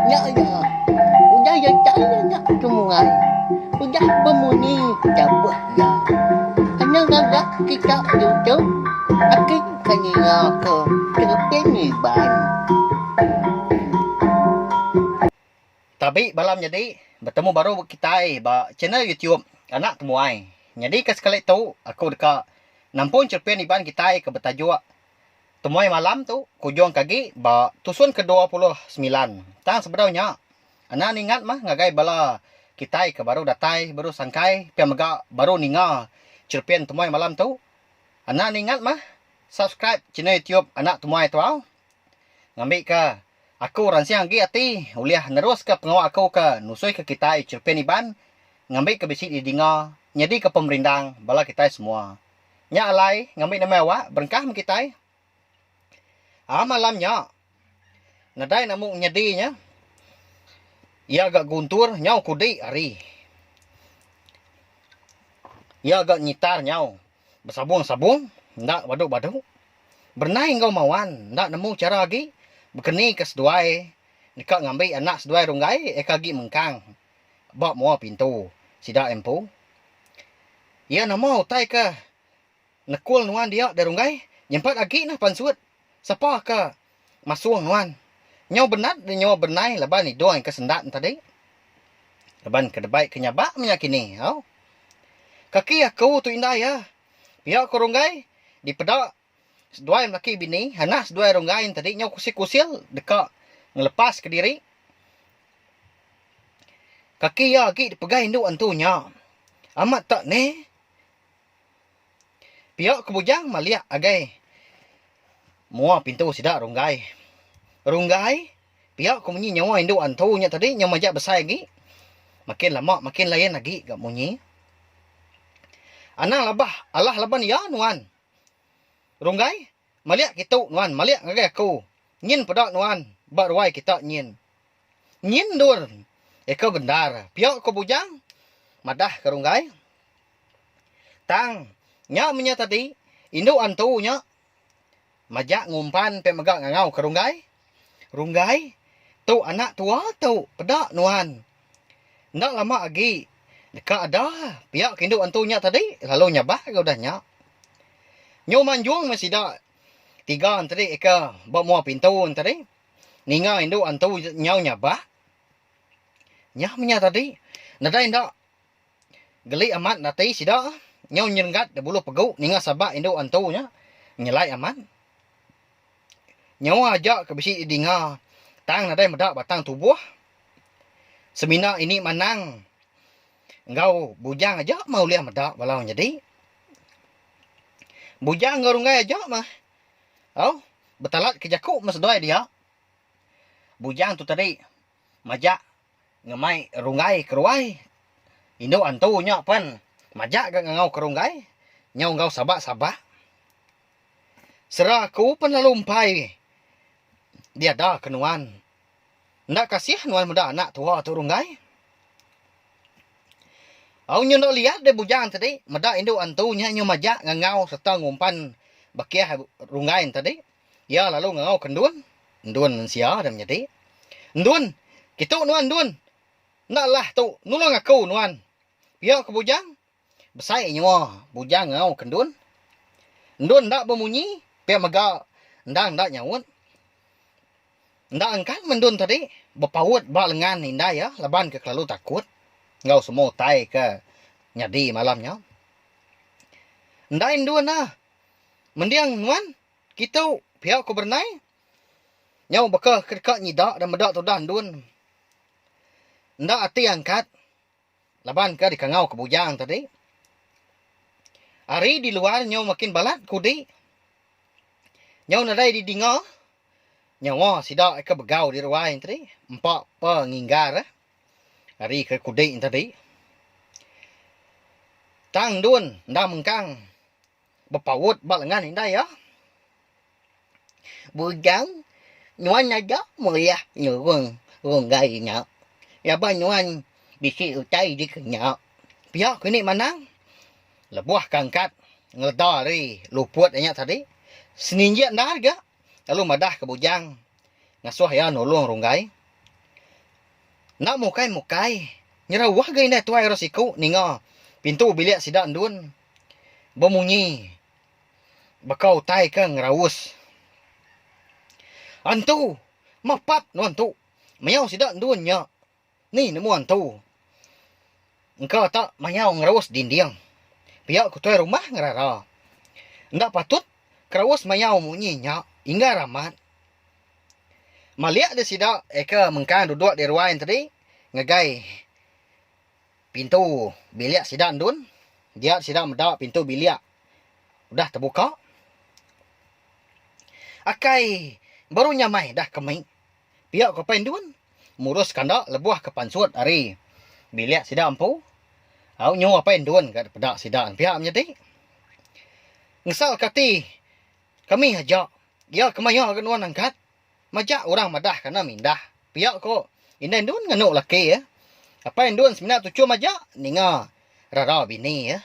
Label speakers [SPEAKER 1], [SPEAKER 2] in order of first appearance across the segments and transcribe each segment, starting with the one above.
[SPEAKER 1] Nya iya, udah iya chai nya kemuai udah bemunyi dabuh iya. Kena ngaga kita diutuh aki ke ninga ke tereping ngiban.
[SPEAKER 2] Tabi bala menyadi betemu baru kitai ba channel YouTube Anak Temuai. Nyadika sekali tu aku deka nampung cherepin Iban kitai ke betajuk. Temuai malam tu kujungka agi ba tusun ke dua puluh semilan tang sebedau nya enda ningat mah ngagai bala kitai ke baru datai baru sangkai pia mega baru ninga cherepin temuai malam tu enda ningat mah subscribe channel YouTube Anak Temuai Tau ngambika aku ransing agi ati ulih neruska pengawa aku ke nusuika kitai cherepin Iban ngambika bisi didinga nyadika pemerindang bala kitai semua. Nya alai ngambi nama awak berengkah meh kitai. A malam nya, nadai enda mung nyadi nya, iya ga guntur nyau kudi ari. Iya ga nyitar nyau besabung-sabung enda badu-badu. Berenai enggau Mawan enda nemu chara agi bekenika seduai deka ngambi anak seduai runggai aka agi mengkang. ba mua pintu sida empu. Iya nama utai ke nekul nuan dia Deh Runggai? Nyempat agi nah pansut. Sapa ke masung nuan? Nyau benat deh nyau benai laban idung ke sendat tadi. Laban ke debai ke nyabak menya kini au. Kaki aku tu indai iya. Pia ko Runggai dipeda Seduai lelaki bini anak seduai ronggai entadi nyau kusil-kusil deka ngelepas kediri. Kaki iya agi dipegai indu antu nya. Amat tak ne. Pia ke bujang malik agai mua pintu sida ronggai. Ronggai pia ke munyi nyawa indu antu nya tadi nyau majak besai agi. Makin lama makin lain agi ga munyi. Anang labah alah laban iya nuan. Runggai, Malik kitu nuan malik ngagai aku. Nyin peda nuan ba ruai kita nyin. Nyin endur eka bendar pia ko Bujang madah ke Runggai. Tang nya menya tadi indu antu nya majak ngumpan pia mega ngangau ke Runggai. Runggai, Tu anak tua tu peda nuan. Enda lama agi deka ada pia ke indu antu nya tadi lalu nyabak ke udah nya. Nyu manjung meh sida tiga enteri ke ba mua pintu tadi ninga indu antu nyau nyabak. Nyah meh nya tadi nadai enda. Geli amat ndati sida nyau nyerenggat debulu pegu ninga sabak indu antu nya nyelai amat. Nyawa aja ke bisi didinga tang nadai meda batang tubuh. Semina ini manang enggau bujang aja meh ulih meda bala orang nyadi. Bujang enggau runggai aja meh au betalatke jaku meh seduai dia. Bujang tu tadi. Majak ngemai runggai keruai. Indu antu nya pen majak ga ngangau ke runggai nyau enggau sabak-sabak. Sera aku pen lalu empai diada ke nuan. Enda kasih nuan meda anak tua tu runggai. Au nyu enda liat deh bujang tadi meda indu antu nya nyu majak ngangau serta ngumpan bakih runggai ntadi. Iya lalu ngangauka Endun, Endun mensia dan menyedi. Endun, Kitu nuan Endun. Enda lah tu, nulung aku nuan. Pia ke Bujang. Besai nyua Bujang ngangauka Endun. Endun enda bemunyi pia mega endang enda nyaut. Enda engkan meh Endun tadi bepaut ba lengan indai iya laban ke kelalu takut enggau semua utai ke nyadi malam nya. Endai Endun ah mending nuan. Kitu, pia ku Bernay. Nyau baka ke deka nyida dan meda tudah endun. Enda ati angkat laban ke dikangau ke bujang tadi. Hari di luar nyau makin balat kudi. Nyau nadai didinga nyawa sida ke begau di ruai entri empa penginggar ari ke kudi entadi. Tang endun enda mengkang. Bepaut ba lengan indai iya. Bujang nuan aja meriah nyurung runggai nya laban nuan bisi utai dikenya. Pia ku Indi Manang lebuh kangkat ngeleda ari luput iya tadi. Seninjik endar ga lalu madah ke bujang ngasuh iya nulung runggai. Enda mukai-mukai nyerauh ga indai tuai ro siku ninga pintu bilik sida endun. bemunyi baka utai ke ngeraus. Antu, mapap nuan tu, mayau sida endun nya ni nemu antu engka ta mayau ngeraus dinding. Pia ku tuai rumah ngerara. Enda patut keraus mayau munyi nya inggar amat. Malik deh sida eka mengkang duduk di ruai enti ngagai. Pintu bilik sida ndun dia sida meda pintu bilik udah tebuka. Akai baru nya mai dah ke mei. Pia ku apai ndun murus kanda lebuh ke pansut ari bilik sida empu. Au nyu apai ndun ga dipeda sida pia menyadi. Ngesalka ati kami aja iya kemaya ga nuan angkat. Majak orang madah kana mindah. Pia ko indai ndun nganu laki iya. Apai ndun semina tuchum majak ninga rara bini iya.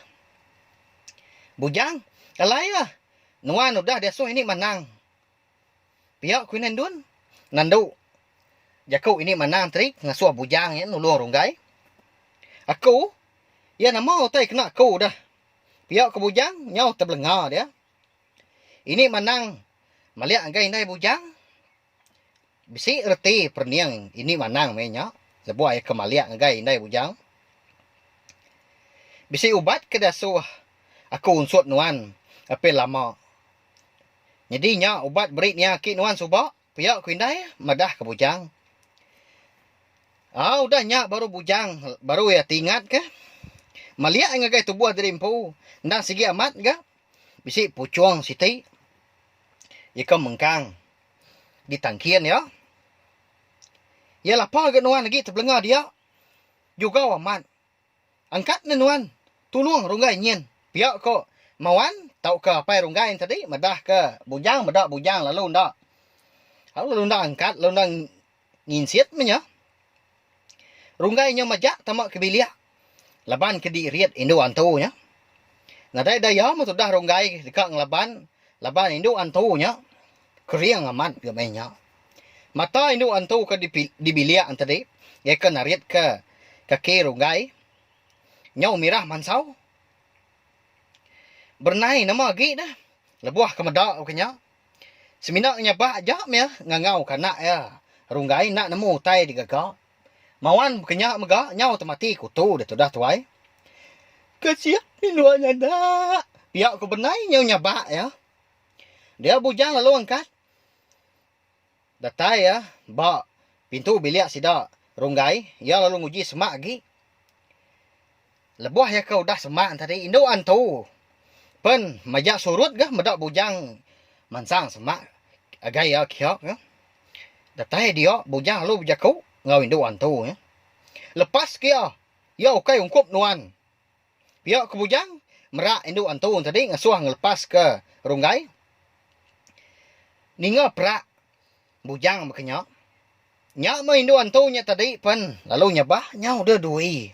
[SPEAKER 2] Bujang, alai iya, nuan udah diasuh ini manang. Pia ko indai ndun nandu jaku ini manang tadi ngasuh bujang iya nulung runggai. Aku, iya nama utai kena aku udah. Pia ko bujang nyau tebelenga dia. Ini manang malik ngagai indai bujang bisi reti perening ini manang meh nya lebuh iya ke malik ngagai indai bujang. Bisi ubat ke diasuh aku unsut nuan apih lama. Nyadi nya ubat beri nia aki nuan suba pia ku indai madah ke bujang. Au udah nya baru bujang baru iya ti ingat ke malik ai ngagai tubuh diri empu endang sigi amat ga. Bisi puchong siti ikau mengkang di tangkin iya. Iya lapar ga nuan agi tebelenga dia. Jugau amat. Angkat ne nuan tulung runggai nyin. Pia ko Mawan tauka Apai Runggai nya tadi madah ke Bujang meda Bujang lalu enda. Lalu enda angkat lalu enda. nginsit meh nya. Runggai nya majak tama ke bilik laban ke dirit indu antu nya. Nadai daya meh tudah Runggai deka ngelaban laban indu antu nya kering amat ga meh nya. Mata indu antu ke di di bilik entadi gaka naritka kaki Runggai nyau mirah mansau. Berenai nama agi deh lebuh ke meda ke nya. Semina nya bah aja meh ngangau ka anak iya Runggai enda nemu utai digaga. Mawan bekenya mega nyau temati ku tu da tudah tuai. Kasian indua nya enda. Pia ku benai nyau nyabak iya. Dia bujang lalu angkat. Datai iya ba pintu bilik sida Runggai, iya lalu nguji semak agi. Lebuh iya ke udah semak tadi indu antu pen majak surut ga meda bujang mansang semak agai iya kiok ga. Datai dia bujang lalu bejaku enggau indu antu nya. Lepas ke iya, iya ukai ungkup nuan. Pia ke bujang, merak indu Antun tadi ngasuh ngelepaska Runggai. Ninga perak bujang baka nya, nya meh indu Antun nya tadi pen lalu nyabah nyau deh dui.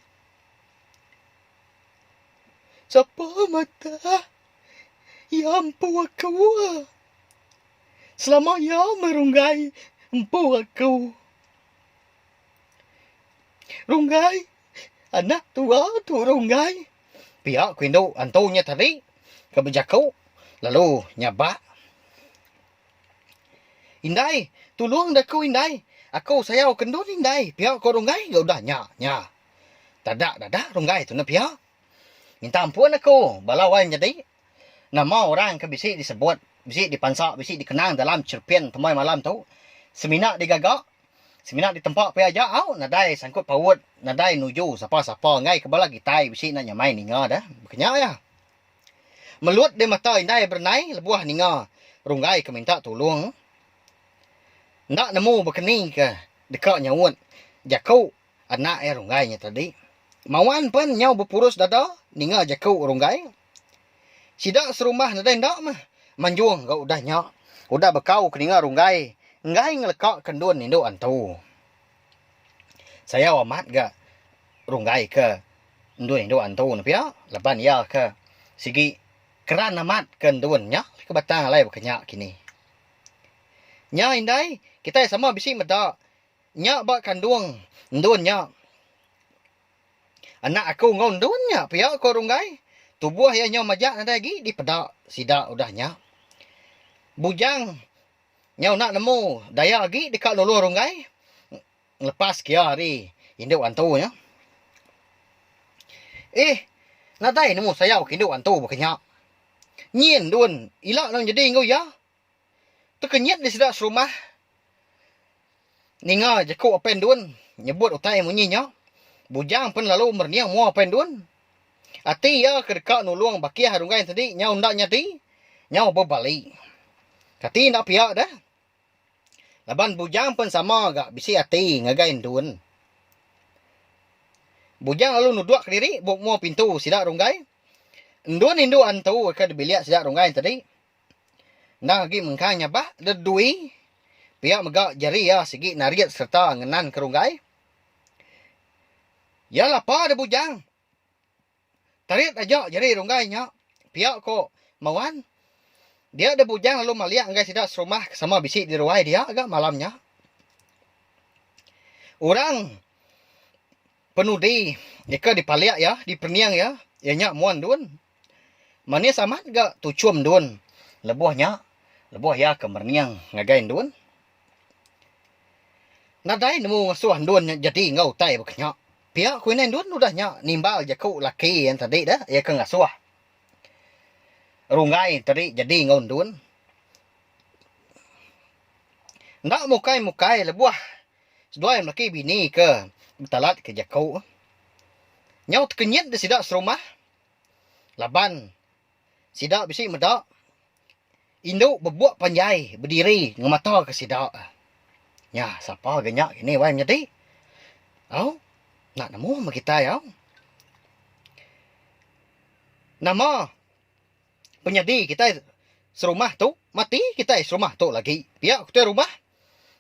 [SPEAKER 2] Sapa madah iya empu aku? Selama iya meh Runggai empu aku. Runggai. Anak tua tu runggai. Pia ku indu antu nya tadi ke bejaku lalu nyabak. Indai, tulung da aku indai. Aku sayau ke endun indai, pia ku runggai ga udah nya nya. Tada dadah runggai tu ne pia. Minta ampun aku bala wai menyadi. Nama orang ke bisi disebut, bisi dipansa, bisi dikenang dalam cherpen temai malam tu semina digaga, semina ditempa pia aja au nadai sangkut paut, nadai nuju sapa-sapa enggai ke bala kitai bisi enda nyamai ninga deh. Kenya iya. Melut deh mata indai berenai lebuh ninga runggai ke minta tulung. Enda nemu bekenikah deka nyaut jaku. anak iya Runggai nya tadi. Mawan pen nyau bepurus dada ninga jaku Runggai. Sida serumah nadai enda mah manjung enggau udah nya. Udah bekau ke ninga Runggai enggai ngeleka ke endun indu antu. Sayau amat ga Runggai ke endun indu antu ne pia laban iya ke sigi keran amat ke endun nya ke batang alai baka nya kini. Nya indai kitai sama bisi meda. Nya ba kandung endun nya. Anak aku enggau endun nya pia ko Runggai tubuh iya nyau majak nadai agi dipeda sida udah nya. Bujang nyau enda nemu daya agi deka nulung Runggai ngelepas kia ari indu antu nya. Ih nadai nemu sayau ke indu antu baka nya. Nyin endun ila nang nyedi enggau iya. Tekenyit di sida serumah ninga jeku Apai Endun nyebut utai munyi nya. Bujang pen lalu merening mua Apai Endun. Ati iya ke deka nulung Bakih ari Runggai tadi nyau enda nyadi, nyau bebali. Kati enda pia deh. Laban Bujang pen sama ga bisi ati ngagai Endun. Bujang lalu nuduk kediri buk mua pintu sida Runggai. Endun indu antu ke dibilik sida Runggai tadi. Endang agi mengkang nyabak deh dui pia mega jari iya sigi narit sereta ngenan ke runggai. Iya lapa deh bujang. Tarit aja jari runggai nya, pia ko Mawan. Dia deh bujang lalu malik enggai sida serumah ke sama bisi di ruai dia ga malam nya. Orang. Penudi nyeka dipalik iya, dipening iya, iya nya mun dun. Manis amat ga tuchum dun lebuh nya, lebuh iya ke merening ngagai endun. Nadai nemu ngesuh endun nya jadi enggau utai baka nya. Pia ku indai endun udah nya nimbal jaku laki iya tadi dah, iya ke ngasuh runggai tadi jadi enggau endun. Enda mukai-mukai lebuh Seduai melaki bini ke betalat ke jaku nyau tekenyit deh sida serumah laban sida bisi meda indu bebuk panjai bediri ngemata ke sida. Nya sapa ga nya kini wai menyadi au enda nemu meh kitai au. Nama Penyadi kitai serumah tu, mati kitai serumah tu lagi. Pia ku tuai rumah.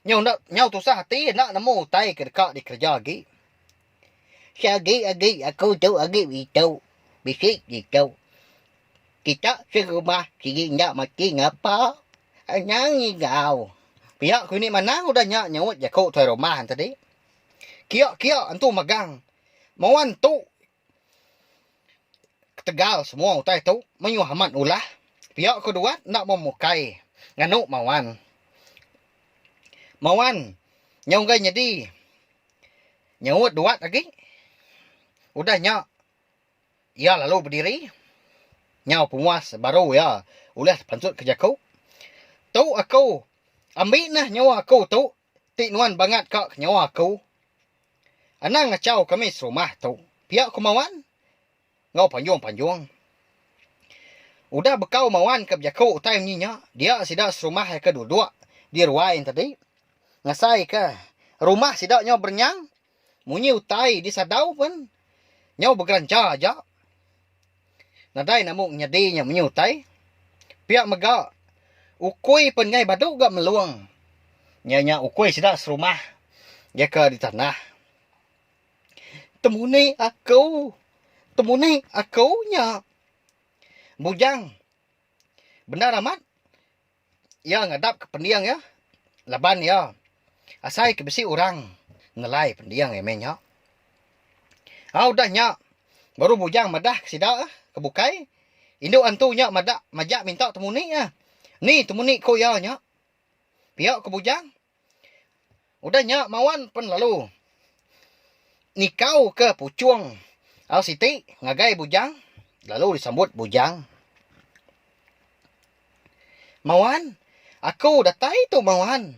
[SPEAKER 2] Nyau enda nyau tusah ati enda nemu utai ke deka dikereja agi. Sha agi agi aku tu agi beitu. Bisi beitu. Kita serumah sigi enda mati ngapa. Anang enggau. Pia ku ini manang udah nya nyuut jaku tuai rumah tadi. Kia-kia entu megang. Moan tu Ketegal semua utai tu menyuah amat ulah pia ke duat enda memukai nganu Mawan. Mawan nyau enggai nyedi nyaut duat agi udah nya iya lalu bediri nyau penguas baru iya ulih pansutka jaku. Tu aku ambi neh nyawa aku tu Ti nuan bangat ka nyawa aku. Anang ngachau kami serumah tu pia ku Mawan enggau panjung-panjung. Udah bekau Mawan ke bejaku utai munyi nya dia sida serumah ai ke duduk di ruai enti tadi ngasaika rumah sida nyau berenyang Munyi utai di sadau pen nyau begeranja aja. Nadai namu nyadi nya munyi utai. Pia mega ukui pen ngai badu ga melung nya nya ukui sida serumah ya ka di tanah. Temuni aku temuni aku nya bujang bendar amat. Iya ngadapka pending iya laban iya asai ke bisi orang nelai pending iya meh nya. Au udah nya baru bujang madahka sida ke bukai indu antu nya madak majak minta temuni iya. Ni temuni ku iya nya? Pia ku bujang. Udah nya Mawan pen lalu nikau ke Puchong au siti ngagai Bujang lalu disambut Bujang. Mawan aku datai tu Mawan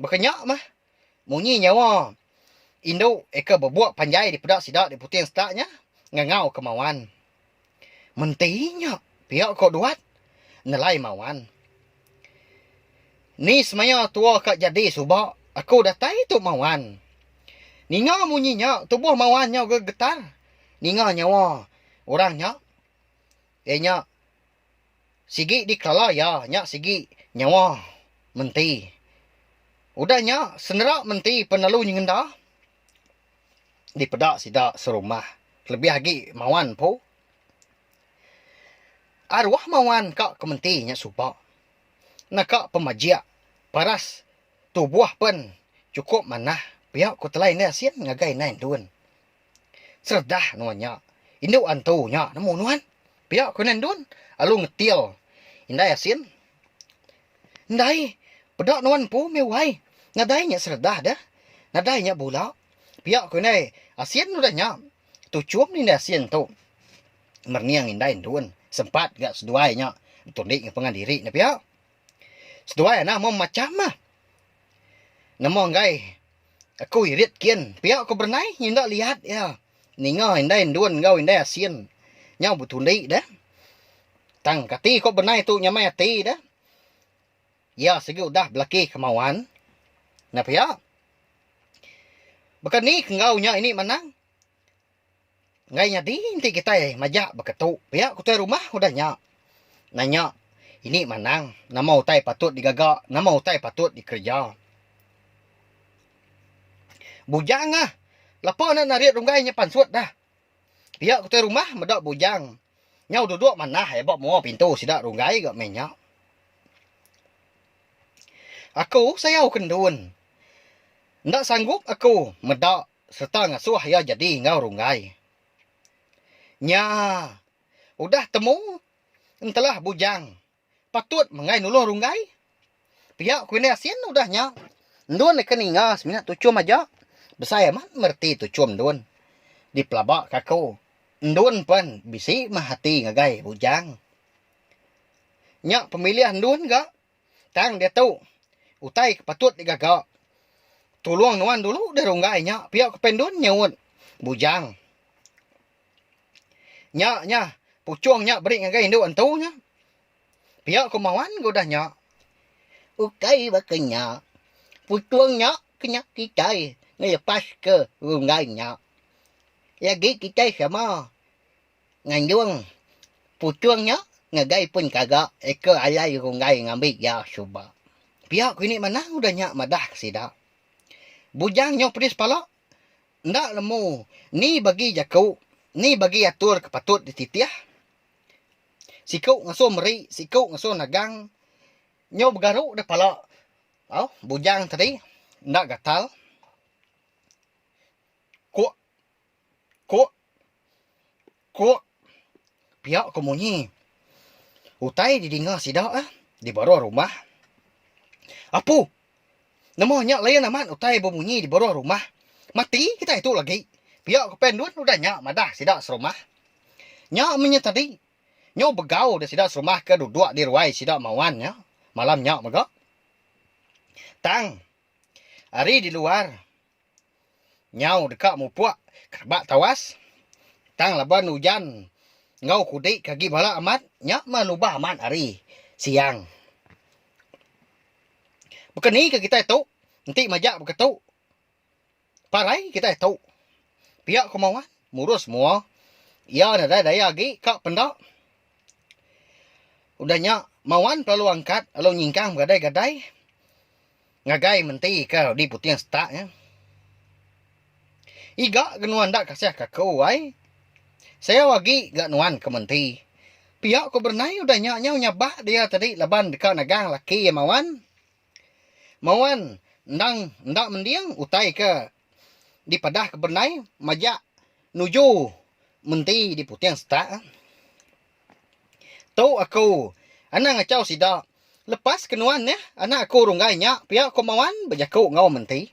[SPEAKER 2] baka nya mah munyi nyawa indu aka bebuk panjai dipeda sida di Puting Setak nya ngangau ke Mawan. Menti nya pia ko Duat nelai Mawan. Ni semaya tua ka jadi suba aku datai tu Mawan. Ninga munyi nya tubuh Mawan nyau ga getar ninga nyawa orang nya. Iya nya sigi dikelala iya nya sigi nyawa menti. Udah nya sendera menti pelalu nyengenda. dipeda sida serumah kelebih agi Mawan empu. Aruh Mawan ka ke menti nya suba naka pemajik paras tubuh pen cukup manah pia ku telai indai asin ngagai indai Ndun. Seredah nuan nya indu antu nya nemu nuan pia ku indai Ndun lalu ngetil indai asin Ndai. Peda nuan empu meh wai. Nadai nya seredah deh. Nadai nya bula. Pia ku indai Asien udah nya. Tuchum deh indai Asien tu merening indai endun sempat ga seduai nya betulik enggau pengan diri ne pia. Seduai anang meh macam meh. Nama enggai aku irit kin. Pia ku berenai nyinda liat iya. Ninga indai endun enggau indai asin nyau betundi deh. Tang kati ko benai tu nyamai ati deh. Iya sigi udah belaki kemauan. Nya pia. Baka ni ke enggau nya ini manang. Enggai nyadi enti kitai majak baka tu. Pia ku tuai rumah udah nya. Nanya ini manang nama utai patut digaga, nama utai patut dikereja. Bujang ngah. Lepa enda narit runggai nya pansut dah. Pia ke utai rumah meda bujang. Nyau duduk manah ai ba mua pintu sida runggai ga meh nya. Aku sayau ke ndun. Enda sanggup aku meda sereta ngasuh iya jadi enggau runggai. Nya udah temu entelah bujang. Patut menggai nulung runggai. Pia ku indah sin udah nya. Endun neken ninga semina tuchum aja. Besai amat mereti tuchum endun. Dipelaba ka aku. Endun pen bisi meh ati ngagai bujang. Nya pemilih endun ga tang diatu utai ke patut digaga. Tulung nuan dulu deh runggai nya pia ku pen endun nyeut bujang. Nya nya, puchung nya beri ngagai indu entu nya. Pia ku Mawan ke udah nya. Ukai baka nya. Puchung nya ke nya kitai ngelepaska runggai nya. Nyadi kitai sama nganjung puchung nya ngagai pun kaga eka alai runggai ngambi iya suba. Pia ku ini manah udah nya madah ke sida. Bujang nyau pedis pala. Enda lemu ni bagi jaku ni bagi atur ke patut dititih. Siku ngasoh meri siku ngasoh nagang nyau begaru deh pala au bujang tadi enda gatal kuk kuk. Ku pia ko munyi. Utai didinga sida di baruh rumah. Apu, nama nya layan amat utai bemunyi di baruh rumah. Mati kitai tu lagi. Pia ko Pen Dun udah nya madah sida serumah. Nya mih nya tadi. Nyau begau deh sida serumah ke duduk di ruai sida Mawan nya malam nya mega. Tang ari di luar. Nyau deka mupuk ke rebak tawas. Tang laban ujan enggau kudi ke agi bala amat nya meh nubah amat hari siang. Baka ni ke kitai tu enti majak beketu parai kitai tu pia kuma wan murus mua iya nadai daya agi ka penda udah nya mawan lalu angkat lalu nyingkang begadai-gadai Ngagai menti ka di puting setak nya. Iga ga nuan enda kasihka aku ai. Sayau agi ga nuan ke menti. Pia ku Bernai udah nya nyau nyabak dia tadi laban deka nagang laki iya Mawan. Mawan endang enda mending utai ke. dipedah ke benai majak nuju menti di puting setak. Tu aku anang achau sida lepas ke nuan neh anak aku runggai nya pia ko Mawan bejaku enggau menti.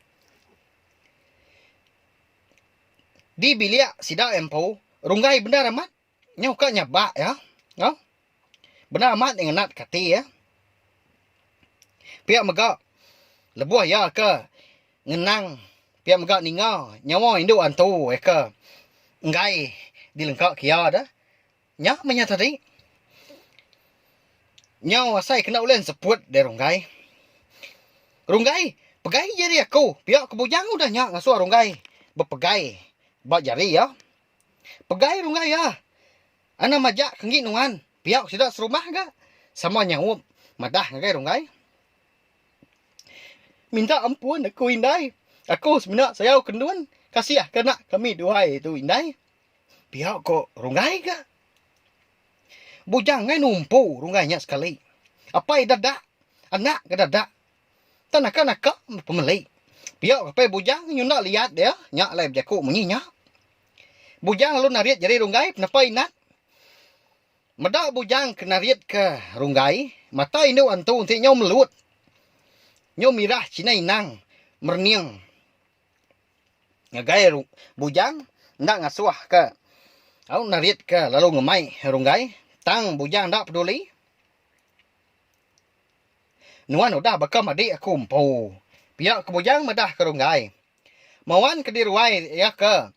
[SPEAKER 2] Di bilik sida empu runggai bendar amat. Nyau ka nyabak iya. Au. Bendar amat nya ngenat ka ati iya. Pia mega lebuh iya ke ngenang pia mega ninga nyawa indu antu iya ke enggai dilengka ke iya da. Nya meh iya tadi. Nyau asai kena ulih nseput diri runggai. Runggai pegai jari aku. Pia ke bujang udah nya ngasuh runggai bepegai ba jari iya. Pegai runggai iya. Ana majak ke enggi nuan, piak sida serumah ga? Sama nyaup madah ngagai runggai. Minta ampun aku indai, aku semina sayau ke endun, kasih ke anak kami duai tu indai. Piak ko runggai ga. Bujang angai numpu runggai nya sekali. Apai dadak, anak ga dadak Tang naka naka pemeli. Pia ke pai bujang nyunda liat dia nya alai bejaku munyi nya. Bujang lalu narit nyadi runggai penepah inat. Meda bujang ke narit ke runggai mata indu antu enti nyau melut. Nyau mirah cina inang merening ngagai bujang enda ngasuh ke au narit ke lalu ngemai runggai tang bujang enda peduli. Nuan udah baka madik aku empu. Pia ke bujang madah ke runggai. Mawan ke diruai iya ke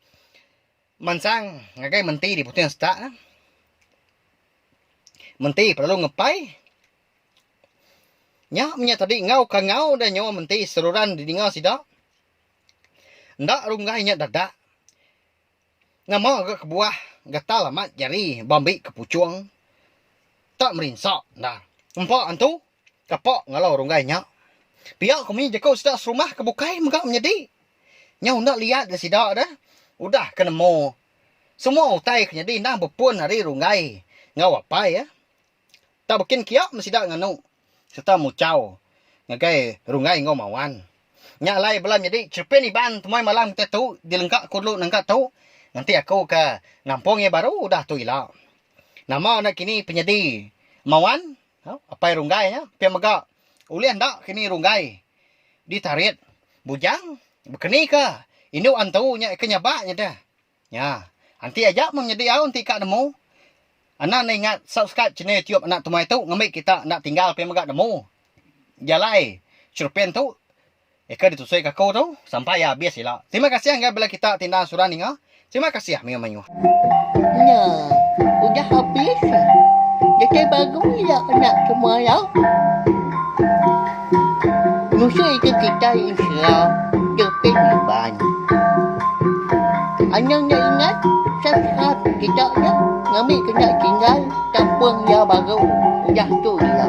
[SPEAKER 2] mansang ngagai menti di puting setak. Menti pelalu ngepai. Nya menya tadi enggau ka enggau udah nyawa menti seruran di ninga sida. Enda runggai nya dadak. Nama ga kebuah gatal amat jari bambi ke puchung? Tak merinsa enda. Empa antu, kapa ngalau runggai nya? Pia ko munyi jaku sida serumah ke bukai mega menyedi. Nyau enda liat ga sida deh udah ke nemu semua utai ke nyadi endang bepun ari runggai enggau apai eh. Tang bkin kia meh sida nganu serta muchau ngagai runggai enggau mawan. Nya alai bela nyadi cherepin Iban temuai malam kitai tu dilengka ku dulu nengka tu ngenti aku ke nampung iya baru udah tu ila. Nama nakini penyedi mawan au apai runggai nya pia mega ulih enda kini runggai ditarit bujang bkeni ke indu antu nya ke nyabak nyadeh. Nya. Enti aja meh nyedi au enti ka nemu. Anak enda ingat subscribe channel youtube anak tumai tu ngambi kita enda tinggal pia mega nemu jalai churpen tu eka ditusui ka aku tu sampai iya abis ila. Terima kasih enggai bela kita ti enda sura ninga. Terima kasih mayuh mayuh. Nya.
[SPEAKER 1] Udah habis. Datai baru ila anak tumai au. Penusah ida kitai ensela depih ngemban. Anang enda ingat sasat sida nya ngambika enda tinggal kampung iya baru udah tu iya.